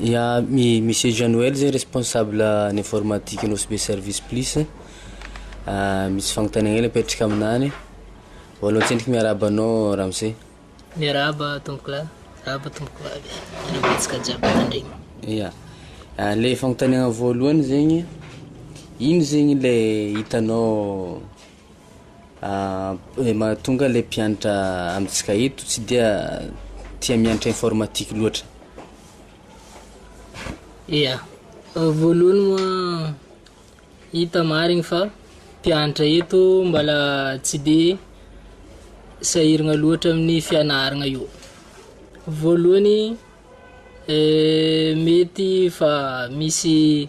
Ya mi Monsieur Jean Noël zay responsable ny informatique ny OSB service plus ah, misy fagnontaniagna hely apetraka aminany, voalohany tsendriky miarahaba anao ramose. Miarahaba tompoko lahy, miarahaba tompoko vavy, miarahaba antsika jiaby mpitandregny. Ya, ah, le fagnontaniagna voalohany zegny, ino zegny le hitanao Ny mahatonga ilay mpianatra amintsika eto tsy dia tia mianatra informatique loatra. Ia, voalohany moa hita marigny fa mpianatra eto mbala tsy de sahiragna loatra amin'ny fianaragna io. Voalohany mety fa misy.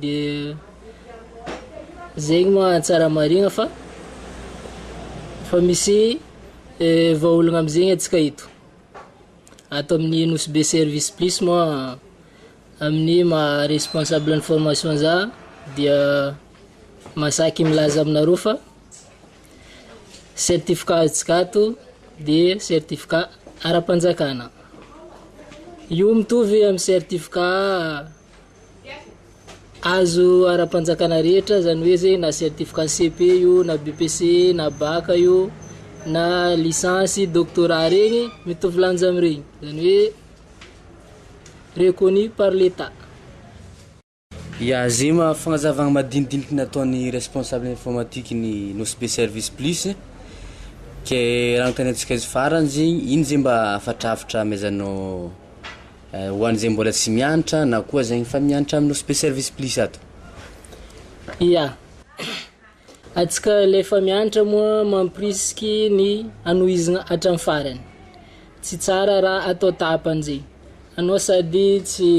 Dia zegny moa tsara marigna fa fa misy vahaolagna am'zegny antsika eto, ato amin'ny Nosy Be Service Plus moa amin'ny maha responsable ny formation za dia mahasaky milaza aminareo fa certificat azontsika ato de certificat ara-panjakana, io mitovy amy certificat. Azo ara-panjakana rehetra, izany hoe zay na certificat CEP io, na BPC, na bac io, na licence, doctorat regny, mitovy lanja amin'iregny, izany hoe reconnu par l'Etat. Ya, ze ma- fagnazavana madinidiniky nataon'ny responsable informatique ny Nosy Be service plus, ke raha anontaniantsika izy farany zegny, ino ze mba afatrafatra amezanao? Ho an'izay mbola tsy miantra na koa zay efa miantra amin'ny Osp Service Plus ato. Ia. Antsika ilay efa miantra moa mampirisiky ny hanohizina hatramin'ny farany. Tsy tsara raha atao tahapanjy. Anao sady tsy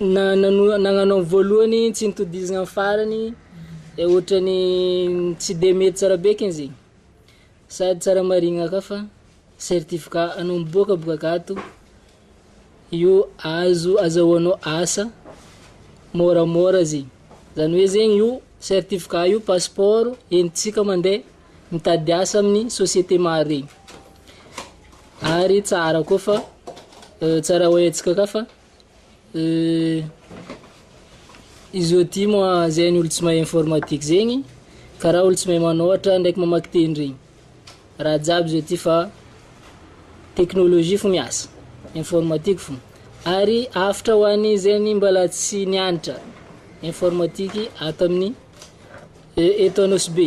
na nanohy nagnano amin'ny voalohany tsy nitodizina amin'ny farany dia ohatran'ny tsy dia mety tsara be eky izy. Sady tsara marihina ka fa Certificat anao miboaka bokak ato io azo azahoanao asa môramôra zegny. Zany hoe zegny io certificat io passeport entintsika mandeha mitady asa amin'ny société maro regny. Ary tsara koa fa tsara oentsika ka fa. Izy ôty moa zegny olo tsy mahay informatique zegny, karaha olo tsy mahay manôratra ndraiky mamaky teny regny, raha jiaby izy ôty fa teknolojia fô miasa, informatique fô, ary hafatra ho an'ny zegny mbôla tsy nianatra informatique ato amin'ny e- eto Anosibe.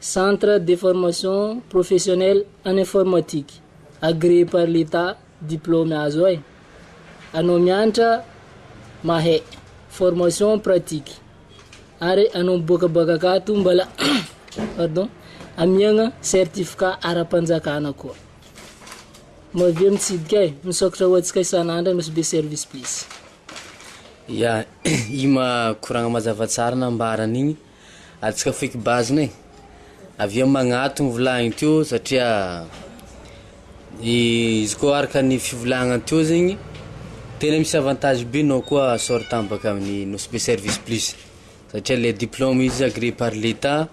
Centre de formation professionnelle en informatique agréé par l'Etat diplôme azo ay anao mianatra mahay formation pratique ary anao miboaka boaka akato mbala pardon amiagna certificat ara-panjakana koa mavia mitsidika ay misaokatra ho antsika isan'andra nosbe service please. Ya, ima koragna mazava tsara nambarany igny. Atsika feky bazina e! Avy eo magnatogno volagniny teo satria izy koa araka ny fivolagnany teo zegny tena misy avantage be nao koa sort tambaka amin'ny nosy be service plus satria le diplôme izy agree par l'etat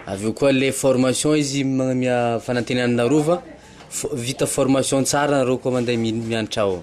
avy eo koa le formation izy magname fanantenana nareo fa vita formation tsara nareo koa mande mianatra ao.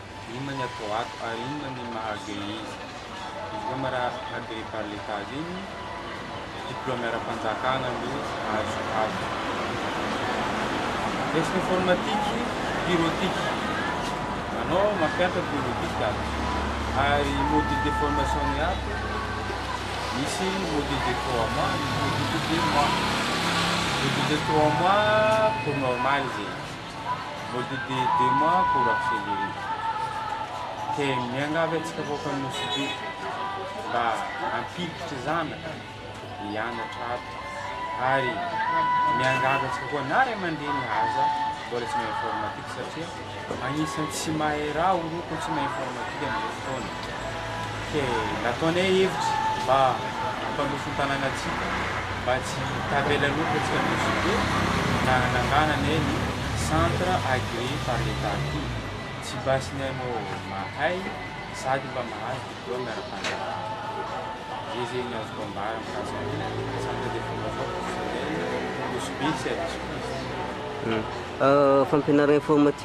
Inona ny atao ato ary inona ny maha agréé izy? Izy koa ma raha agréé par l'Etat azy iny, diplôme ara-panjakana aloha azo ato. Resaka informatique, bureautique, anao mampianatra bureautique ato. Ary module de formation ny ato, misy module de trois mois, misy module de deux mois. Module de trois mois cours normal zay. Voavidy deux mois pour acheter des riz. Dia miangavy antsika vahoaka ny Nosy Be mba hampiditra zanaka hianatra ato ary miangavy antsika koa na ray aman-dreny aza mbola tsy mahay informatique satria anisan'ny tsy mahay raha oroka tsy mahay informatique amin'izao fotoana. Dia nataonay hevitra mba hampanofy ny tanànantsika mba tsy hitavela loatra atsika Mexico ka nanangananay ny Centre Agréé par l'Etat ity. Tsy basy ny hanao mahay sady mba mahazo diplôme ara-panjakana. Dia izay no azoko ambara mikasika ny Centre de Formation Professionnelle Ambosibe, tsy adisoko izy. Fampianarana informatique.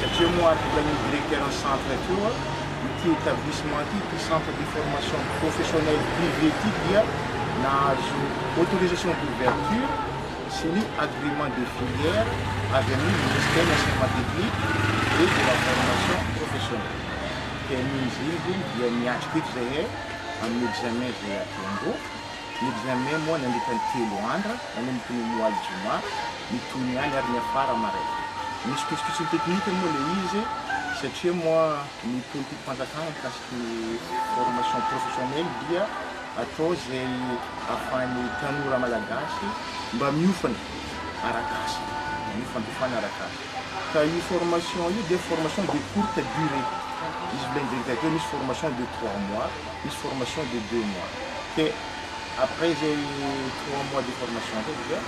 Satria moa article an'io directeur ny centre ty hoa, ity etablissement ty, ity centre de formation professionnelle privée ty dia nahazo autorisation d'ouverture sy ny agrément de filière avy amin'ny ministère enseignement technique et de la formation professionnelle. Dia amin'iny zay aloha dia miatrika eto zahay amin'ny examen zay atombo. Ny Jamia moa nandritra ny telo andra, nanomboka ny Moal Juma, ny toy ny any ary niafara maraina. Nisy pitsopitsony teknika moa ilay izy satria moa ny politikim-panjakana mikasika ny formation professionnelle dia atao izay ahafahan'ny tanora malagasy mba miofana arak'asa, miofanofana arak'asa. Ka io formation io dia formation de courte durée, izy mbola indregidregy hoe misy formation de trois mois, Misy formation de deux mois dia après izay trois mois de formation izay dia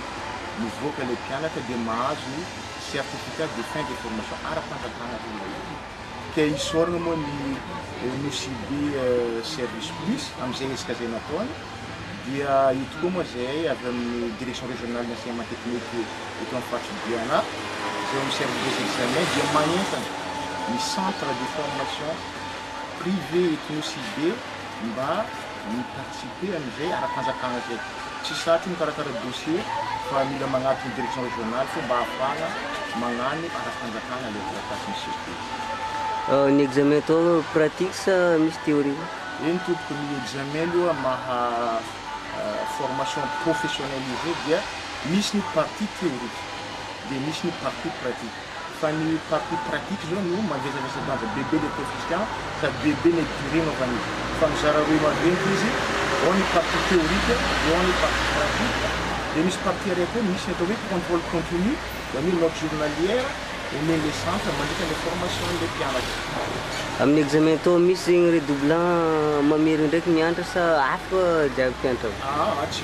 mivoaka ilay mpianatra dia mahazo ny certificat de fin de formation ara-panjakana hoy ilay izy. Dia isaorana moa ny Nosy-Be Service Plus amin'izay ezaka izay nataony. Dia io tokoa moa izay avy amin'ny Direction Régionale d'Enseignement Technique eto amin'ny faritry Biana izay mi-servir des examens dia manentana ny centre de formation privé eto Nosy be mba mi participer amin'izay ara-panjakana izay. Tsy sarotra ny mikarakara dossier fa mila magnadika ny direction régionale fô mba ahafahana magnano ara-panjakana ilay taratasy miseho teo. Ny examen atao pratique sa misy théorie? Eny tompoko, ny examen aloha maha formation professionnelle izy dia misy ny partie théorique dia misy ny partie pratique. Fa ny partie pratique zao no mangezavezy danja bebe le coefficient sady bebe le durée anaovana izy fa mizara roe maventy izy ao ny partie théorique eo ao ny partie pratique de misy partie iray koa misy ny atao hoe contrôle continu zany hoe note journalière omen le centre mandritra le formation le mpianatra. Amin'ny examen atao misy zegny redoublant mamery ndraiky miantra sa hafa jiaby mpiantra? Aa tsy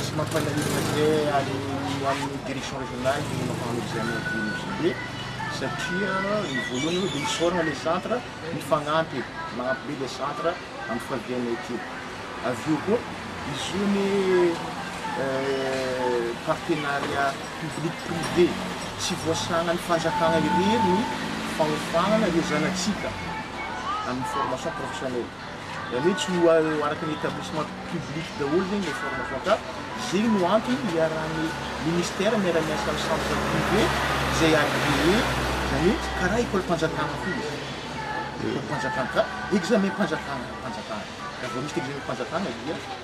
Tsy mampalahelo ve any amin'ny direction régionale ny manao examen de MJB satria ny voalohany aloha dia hisaorana ilay centre mifagnampy e, magnampy be ilay centre amin'ny fiavianay aty. Avy eo koa izy io anie partenariat public privé, tsy voasahanan'ny fanjakana irery ny faofanana ireo zanatsika amin'ny formation professionnelle. Zany hoe tsy ho araka ny établissement public daholo zegny le forme compta, zegny no antony iarahan'ny ministère miara miasa amin'ny centre privé izay agréé, zany hoe karaha école-mpanjakana koa izy, école-mpanjakana ka examen-mpanjakana, mpanjakana, raha vao misy examen-mpanjakana dia.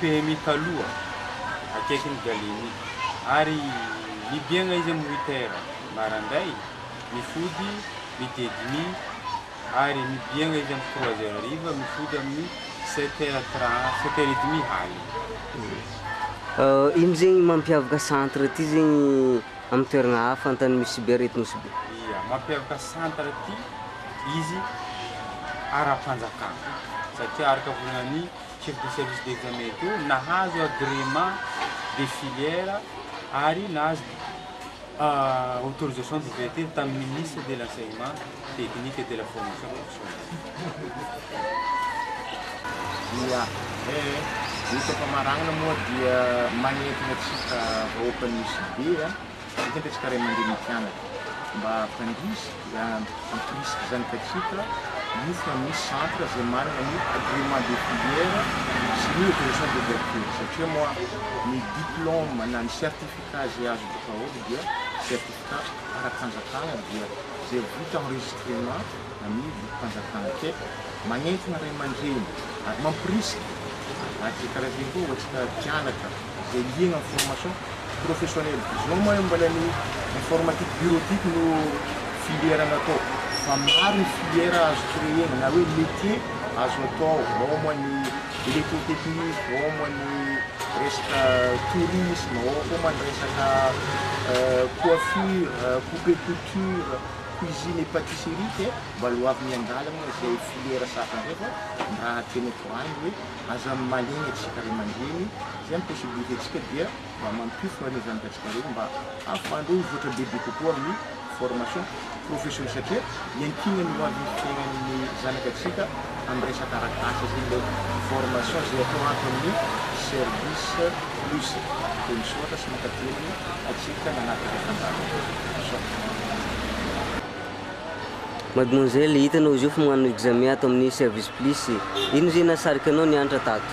PMI taloha, akaikin'i Galeni, ary nibiagna izy amin'ny huit heures marandray, mifody midi et demi, ary mibiagna izy amin'ny trois heures hariva, mifody amin'ny sept heures trente, sept heures et demi haly. Ino zegny mampiavaka centre ty zegny amin'ny toeragna hafa Antanimosy sy Bera eto Nosy Be? Ia, mampiavaka centre ty izy ara-panjakana satria araka volagnin'ny. Circuit Service d'Examen io, nahazo agrément de filière ary nahazo autorisation d'ouverture tamin'ny Ministre de l'Enseignement Technique et de la Formation Professionnelle. Ny famaranana moa dia manentana antsika vahoaka an'i Nosy Be. Betsaka ny tsika ray aman-dreny mpianatra mba hampandroso dia hampirisika izany ka tsika io fa misy centre izay manana ny agrément de filière sy ny autorisation d'ouverture satria moa ny diplôme na ny certificat izay azo daholo dia certificat ara-panjakana dia izay vita enregistrement amin'ny lokom-panjakana ka manentana ray aman-dreny ary mampirisika ary izay karazany koa ho antsika mpianatra. Izay liana amin'ny formation professionnelle zao moa mbola ny informatique bureautique no filière natao fa maro ny filière azo créer-na na hoe métier azo atao ao moa ny électrotechnique, ao moa ny resaka tourisme, ao koa moa ny resaka coiffure, coupe et couture, cuisine et patisserie dia mbola ho avy miandalana izay filière sasany izay fa ny raha tena tohaniny hoe Aza maligny atsika ray aman-dreny, zay ny possibilité tsika dia mba mampify an'ireo zanaka tsika ireo mba ahafahandreo hivoatra bebe kokoa amin'ny formation profession satria iankinany ho avin'ny fiainan'ny zanaka tsika amin'ny resaka arak'asa zay ilay formation zay atao ato amin'ny service plus. Dia misaotra sy mankateligny atsika nanatitra fandaharana. Misaotra. Mademoiselle, hitanao izy io fa manao examen ato amin'ny service plus, inona izay nahasarika anao niantra tato?